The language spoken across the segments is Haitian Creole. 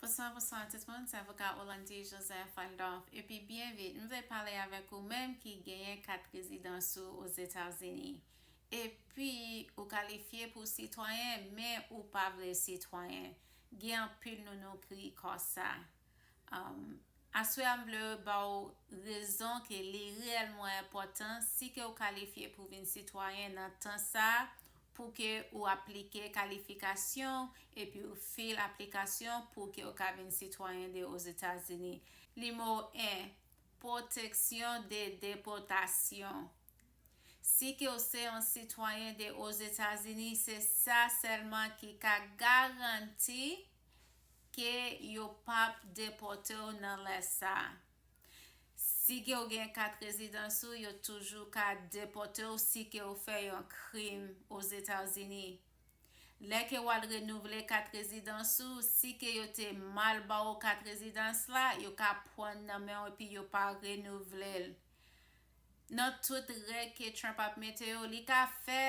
Bonswa bonswa tout moun se avoka Olandy Joseph Randolph epi byen vit m vle pale avèk ou menm ki genyen kat rezidans ou Ozetazini epi ou kalifye pou sitwayen men ou pa vle sitwayen gen anpil nou nou kri kò sa Aswè a m vle ba w rezon ke li reyèlman enpòtan si ke w kalifye pou vin sitwayen nan tan sa pou ke w aplike kalifikasyon w epi w fil aplikasyon pou ke w ka vin sitwayen de Ozetazini. Nimewo 1, Pwoteksyon de depòtasyon. Si ke w se yon sitwayen de Ozetazini, se sa sèlman ki ka garanti Ke yo pap depote w nan lè sa. Si ke w gen kat rezidans ou yo toujou ka depote w si ke w fè yon krim Ozetazini. Lè ke w al renouvle kat rezidans ou, si ke yo te mal ba w kat rezidans la, yo ka pwan nan men w epi yo pa renouvle l. Nan tout règ ke Trump ap mete yo, li ka fè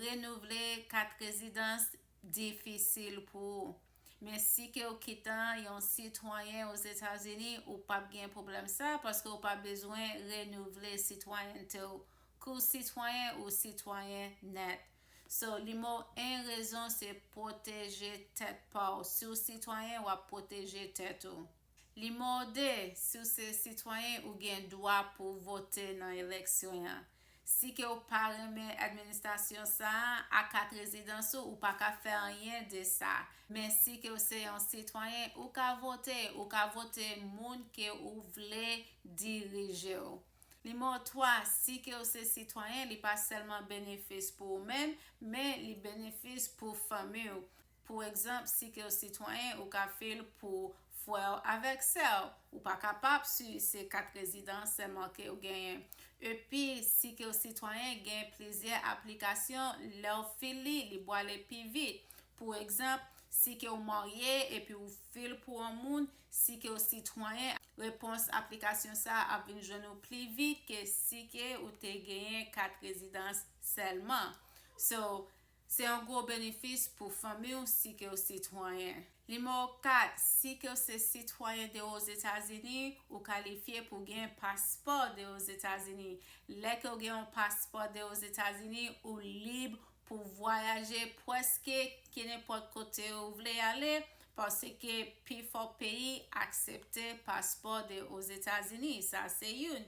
renouvle kat rezidans difisil pou ou. Men si ke ou kitan yon sitwayen Ozetazini, ou pap gen pwoblèm sa paske ou pa bezwen renouvle sitwayènte ou. Ke ou sitwayen, ou sitwayen nèt. So, nimewo 1 rezon se pwoteje tèt pa ou. Si ou sitwayen, wap pwoteje tèt ou. Li mòde si w se sitwayen ou gen dwa pou w vote nan eleksyon an. Si ke w pa renmen administasyon sa a ak kat rezidans ou, ou pa ka fè anyen de sa. Men si ke w se yon sitwayen, ou ka vote. Ou ka vote moun ke ou vle dirije w. Nimewo 3, si ke w se sitwayen, li pa sèlman benefis pou ou menm, men li benefis pou fanmi w. Pou egzanp, si ke w sitwayen, ou ka fil pou frè w avèk sè w. Ou pa kapab si se kat rezidans sèlman ke w genyen. Epi, si ke w sitwayen, genyen plizyè aplikasyon, lè w fil li, li bwale pi vit. Pou egzanp, si ke w marye epi ou fil pou on moun, si ke w sitwayen, repons aplikasyon sa a ap vin jwenn ou pli vit ke si ke ou te genyen kat rezidans sèlman. So, Se yon gwo benefis pou fanmi w si ke w sitwayen. Nimewo 4, Si ke w se sitwayen de Ozetazini, ou kalifye pou gen paspò de Ozetazini. Lè ke w gen yon paspò de Ozetazini, ou lib pou vwayaje pwèske kenenpòt kote ou vle ale, paske pifò peyi aksepte paspò de Ozetazini. Sa se youn.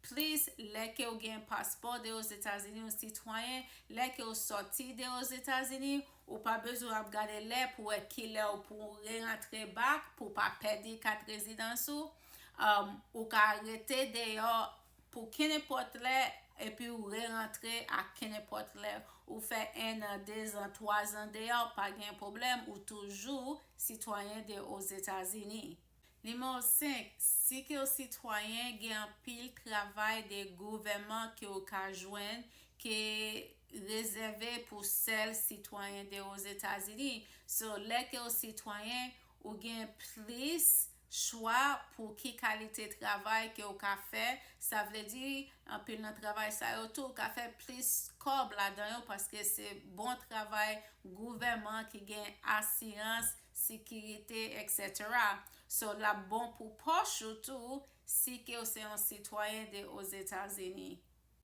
Plis, lè ke ou gen paspò de Ozetazini ou sitwayen, lè ke ou sòti de Ozetazini, ou pa bezwen ap gade lè pou wè kilè ou pou ou re-rantre back pou ou pa pèdi kat rezidans ou. Ou ka rete deyò pou kenenpòt lè epi ou re-rantre a kenenpòt lè. Ou fè 1 an, 2 zan, 3 zan deyò, pa gen pwoblèm, ou toujou sitwayen de Ozetazini. Nimewo 5, Si ke w sitwayen, gen anpil travay de gouvèman ke w ka jwenn ke rezève pou sèl sitwayen de Ozetazini. So, lè ke w sitwayen, ou gen plis chwa pou ki kalite travay ke w ka fè. Sa vle di, anpil nan travay sa yo tou, w ka fè plis kòb ladan yo paske se bon travay gouvèman ki gen asirans sikirite etc. So lap bon pou pòch ou tou si ke w se yon sitwayen de Ozetazini.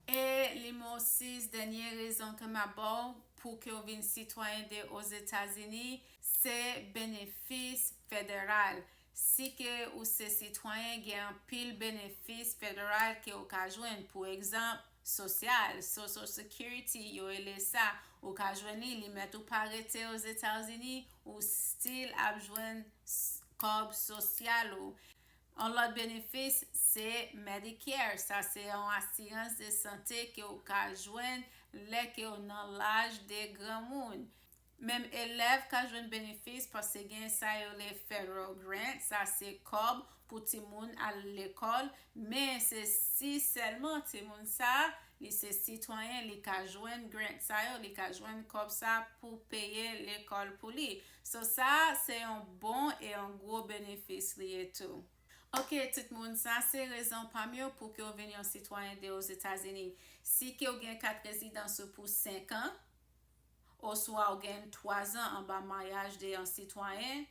E nimewo 6 dènye rezon ke map ba w pou ke w vin sitwayen de Ozetazini se benefis federal. Si ke w se sitwayen gen anpil benefis federal ke w ka jwenn pou egzanp. Sosyal, Social Security, yo rele sa, ou ka jwenn li, li mèt ou pa rete Ozetazini, ou still ap jwenn kòb sosyal ou. Yon lòt benefis se Medicare, sa se yon asirans de sante ke ou ka jwenn lè ke ou nan laj de granmoun. Menm elèv ka jwenn benefis paske gen sa yo rele federal grant, sa se kòb pou timoun al lekòl, men se si sèlman timoun sa li se sitwayen li ka jwenn grant sa yo, li ka jwenn kòb sa pou peye lekòl pou li. So sa se yon bon e yon gwo benefis li ye tou. Ok tout moun, sa se rezon pa m yo pou ke w vin yon sitwayen de Ozetazini. Si ke w gen kat rezidans ou pou 5 an, oswa ou gen 3 zan anba maryaj de yon sitwayen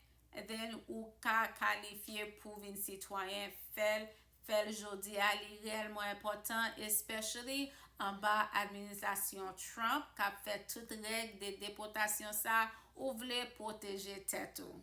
then ou ka kalifye pou vin sitwayen fèl fèl jodia li rèlman enpòtan especially anba administrasyon Trump kap fè tout règ de depotasyon sa ou vle pwoteje tèt ou.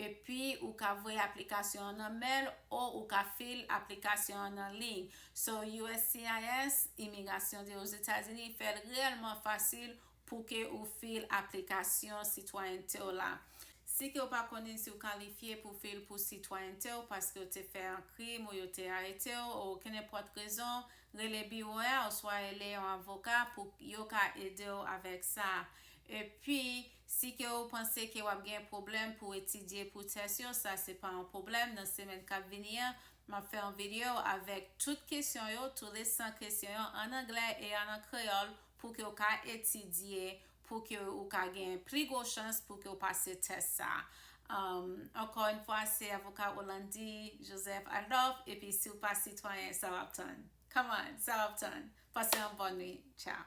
Epi ou ka voye aplikasyon an nan mail o ou ka fill aplikasyon an nan liy. So uscis, Imigrasyon de Ozetazini, fè l reyèlman fasil pou ke ou fill aplikasyon sitwayènte w la. Si ke ou pa konnen si ou kalifye pou fill pou sitwayènte w paske ou te fè an krim ou yo te arete w o kenenpòt rezon, rele biwo a oswa ele yon avoka pou yo ka ede w avèk sa. Epi. Si ke ou panse ke wap gen pwoblèm pou etidye pou tès yo sa se pa yon pwoblèm nan semèn kap vini an map fè yon video avèk tout kesyon yo tou les 100 kesyon yo an anglè e an an kreyòl pou ke ou ka etidye pou ke ou ka gen pli gwo chans pou ke ou pase tès sa ankò yn fwa se avoka Rolandi Joseph Adolphe epi si ou pa sitwayen sa wap tann come on sa wap tann pase yon bòn nwit tchao.